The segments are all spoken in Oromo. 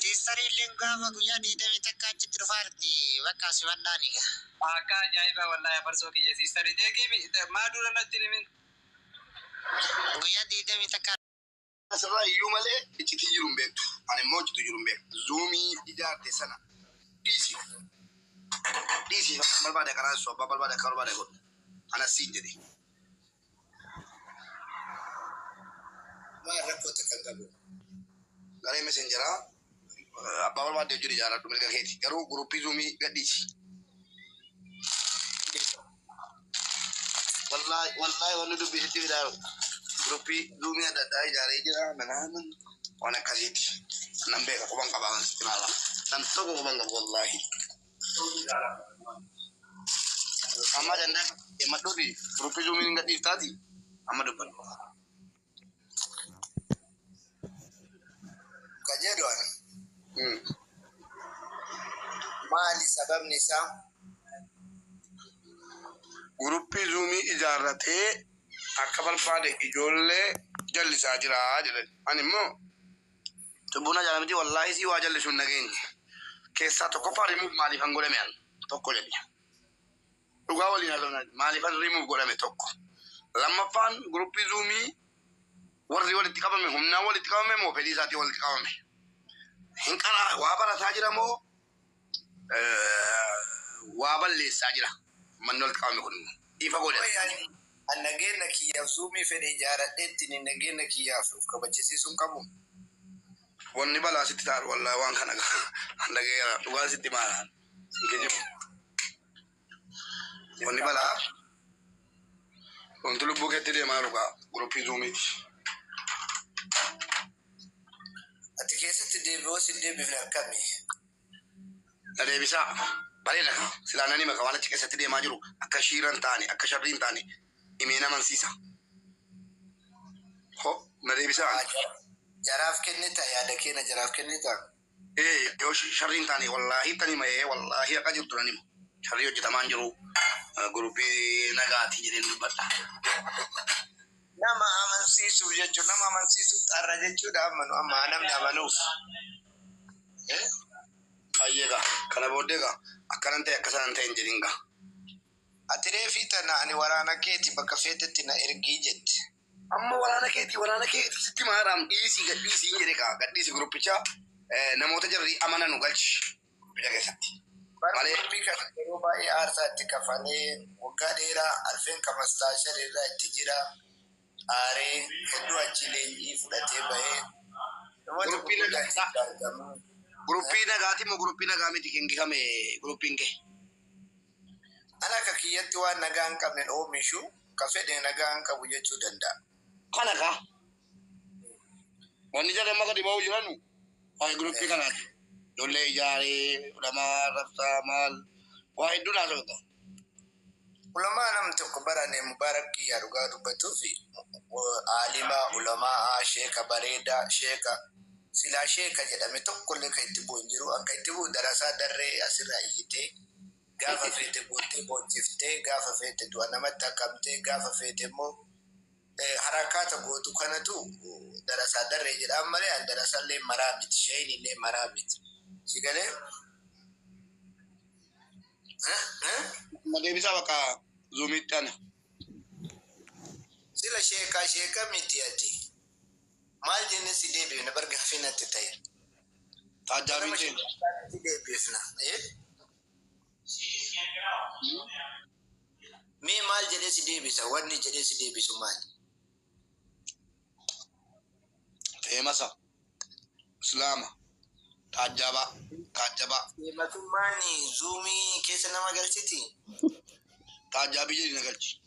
Siistariilleen gaafa guyyaa digdamii takka achitti dhufaa jirti bakka simadhaan egaa. Akkaa ajaa'ibaa wallahi afarsoo kiyya siistari deeqiimi maa dura natti hin himin. Guyyaa digdamii takka. Asirraa iyyuu malee iccitiin jiru hin beektu ani immoo iccituu jiru hin beeku zuumii ijaarte sana dhiisiif dhiisiif abbaan barbaade akka raasisu abbaan barbaade akka barbaade godhu anas siin jedhe. Waan rakkoo takka hin qabu. Garee messengeraa eh, abbaa barbaadde wajjin ijaaradhu mirga keeti. Garuu guruppii zuumii gadhiisi. Wallahi wallahi wanni dubbii sitti fidaa jiru. Guruppii zuumii adda addaa ijaaree jira manaaman waan akkasiiti. Nan beeka quban qabaa waan sitti ilaala. Nan tokko quban qabu wallahi. Amma dandaa himmadhuu fi guruppi zuumiin hin gadhiiftaati amma dubbadhu. Ka jedhu ani. Maali sababni isaa? Guruppii zuumii ijaarratee akka barbaade ijoollee jallisaa jira jedhan. Ani immoo Cubbuun ajaala miti wallaahi sii waa jallisu hin dhageenye. Keessaa tokkoffaa remove maaliifan godhame an tokko jedhi. Dhugaa waliin haasofna maaliifan remove godhame tokko. Lammaffaan guruppii zuumii warri walitti qabame humnaan walitti qabame moo fedhii isaatiin walitti qabame. Hin qaraa waa barataa jira moo waa balleessaa jira. Ummanni walitti qabame kun immoo ifa godhate. An nageenna kiyyaaf zuumii fedhe ijaaradheettini nageenna kiyyaaf of kabachisiisuun qabu? Wanni balaa sitti ta'an wallahi waan kana an dhaga'eera dhugaan sitti himaa isin kijibu. Wanni balaa wanti lubbuu keetti deemaa jiru kaa guruppii zuumiiti. Ati keessatti deebi'oo sin deebifne akkami? Na deebisaa. Bareeda kaa. Silaa nan hima ka waan achi keessatti deemaa jiru akka shiira hin taane akka sharrii hin taane himeen amansiisa. Ho na deebisaa. Haa jaraaf kennita yaada keena jaraaf kennita. Ee yoo sharrii hin taane wallaahi tan hima ee wallaahi haqa jirtu nan hima. Sharrii hojjetamaa hin jiru guruppii nagaati jedheen dubbadha. Nama amansiisuuf jechuun nama amansiisuuf xarra jechuudha amma nu amma namni amanuuf. Ee Hayyee gaa kana booddee gaa akkanan ta'e akkasanan hin ta'in jedhin gaa. Ati reefii tana ani waraana keeti bakka feetetti na ergii jette. Amma waraana keetii waraana keetii sitti maadhaam dhiisii gad dhiisii hin jedhe kaa gad dhiisi guruppicha eh, namoota jarri amananu galchi guruppicha keessatti. Bara Malee gurbii kana yeroo baay'ee aarsaa itti kafalee waggaa dheeraa arfeen ka mastaashar irraa itti jira aaree hedduu achi leenjii fudhatee bahee namoota guruppii nagaa gurguddaan isaa itti argamu. guruppii nagaati moo guruppii nagaa miti kan gifame guruppiin kee. Ani akka kiyyatti waan nagaa hin qabne hin oomishu, ka fedhe nagaa hin qabu jechuu danda'a. Kana ka wanni jedhan maka dhiba'uu jiranu waa'ee group kanaati. Ijoollee ijaaree, ulamaa arrabsaa, maal waa hedduun haasawa gaa. Ulamaa namni tokko bara ani Mubaarak kiyyaa dhugaa dubbatuufi aalima, ulamaa'a, sheeka bareeda, sheeka silaa sheeka jedhame tokkollee ka itti bu'u hin jiru. An ka itti bu'u darasaa darree asirraa iyyitee. Gaafa feete boottee boochiftee, gaafa feete du'a namatti akkamtee, gaafa feete immoo harakaata gootu kanatu darasaa darree jedhaan malee an darasallee maraa miti sheeyniillee maraa miti si galee ma deebisaa bakka zuumiitti ana sila sheekaa sheeka miti ati Maal jennee si deebifna bar gaaffii natti ta'eera. Taajjaa Nama Michee. jibbitu isaanitti deebifna. Eh? Mee maal jedhee si deebisa? Wanni jedhee si deebisu maali? Feemasa. Islaama. Taajjabaa. Taajjabaa. Feematummaan zuumii keessa nama galchiti? Taajjaa biyya dina galchi.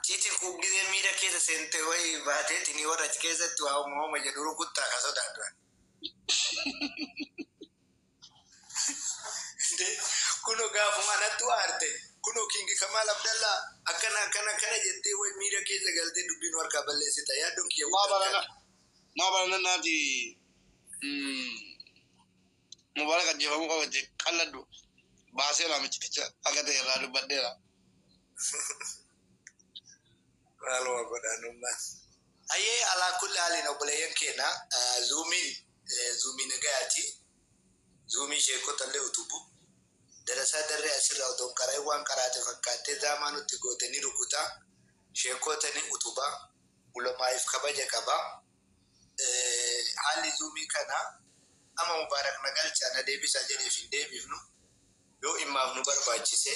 Citi ku gize mida kesa sente wayi bate tini wari achi kesati wa homa homa jedhu rukuta ka sodatu ani. Indee kuno gafuma natu arte kuno king kamal abdalla akana akana akana jete wayi mida kesa galte dubi nu harka balesita yadon kiya gudan kana. Maa barana maa barana naati. Mubaarak ajjeefamuu qaba itti qalladhu baaseera micciticha akka ta'e irraa dubbadheera. Maaluma godhaan umma. Hayyee alaa kulli haaliin obboleeyyan keenya zuumiin zuumii nagayaati zuumii sheekota illee utubu darasaa darree asirraa otoo hin qara'in waan qaraate fakkaattee zaamaa nutti goote ni rukuta sheekota ni utuba ulamaa'iif kabaja qaba haalli zuumii kana ama mubaarak na galcha na deebisa jedheef hin deebifnu yoo immaaf nu barbaachise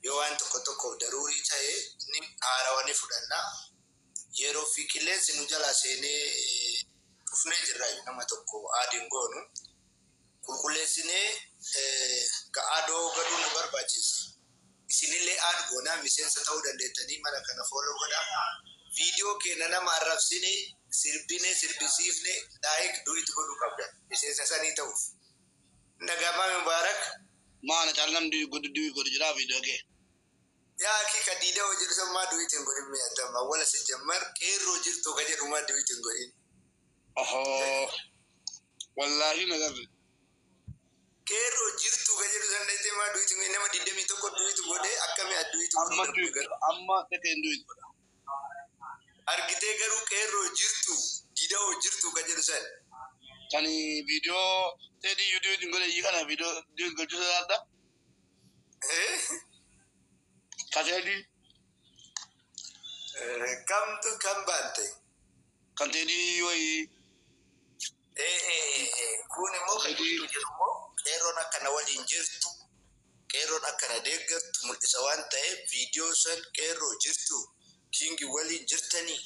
yoo waan tokko tokkoof daruurii ta'e ni haarawa ni fudhanna yeroo fi qilleensi nu jalaa seenee dhufnee jirra nama tokko aadiin goonu qulqulleessinee ga adoo gaduun nu barbaachiisa. Isinillee add goona miseensa ta'uu dandeettanii mala kana follow godhaa. Video keenna nama arrabsine, sirbine, sirbisiifne like, do it godhuu qabdan miseensa isanii ta'uuf. Hin dhaga'amaa Mubarak? Maa ana caala namni do it godhu do it godhu jiraa video kee. Yaa akii ka diidawo jedhu san maa do it hin godhin mee attam awwala sijjammar qeerroo jirtuu ka jedhu maa do it hin godhin. Ohoo. Wallaahi hin agarre. Qeerroo jirtuu ka jedhu san dhayxee maa duwitu mee nama digdamii tokko duwitu godhee akkami adduwitu Amma kunii duwitu garuu. godha. Amma dhaqeen duwitu godha. Argitee garuu qeerroo jirtuu gidawoo jirtuu ka jedhu san. Kani video tedi yu duwitu hin godhe iyyi kana video duwitu gochuu sodaadha. Ka tedi. Kamtu kam baante. Kan teedii wayii. Kun immoo kan jiru immoo qeerroon akka na waliin jirtu qeerroon akka na deeggartu mul'isa waan ta'eef viidiyoo san qeerroo jirtu kiingi waliin jirtanii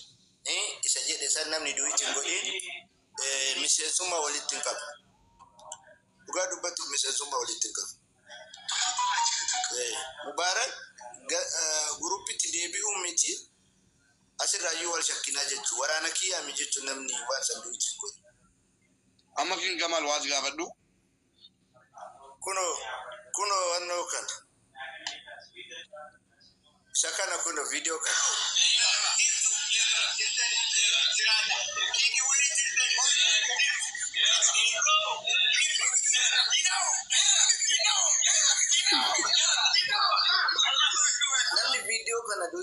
isa jedhe san namni duwiitti hin godhiin miseensummaa walitti hin qabu. Dhugaa dubbachuuf miseensummaa walitti hin qabu. Mubaarak guruppitti deebi'uu miti. Asirraayyuu wal shakkinaa jechu waraana kiyaa mi jechu namni waan san duuti hin godhu. Amma king Gamal was gaafadhu. Kuno kuno wanno kana Isa kana kuno video kana. Namni video kana duuti hin godhu.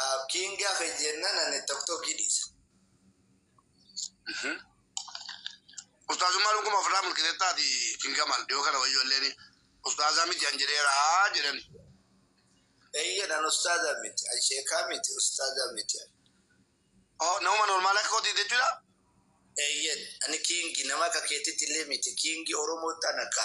Abdiin gaafa jennan ani tokkokkii dhiisa. Ustaazummaa dhuguma ofirraa mulqisettaati kingamal dhiyoo kana wayyoo illeen ustaazaa miti an jedheeraa jedhan. Eeyyen an ustaaza miti, an sheekaa miti, ustaaza miti. Oh, Nama normaal akka kooti jechuudha. Eeyyen ani kiingi nama akka keetitti illee miti kiingi Oromootti an akka.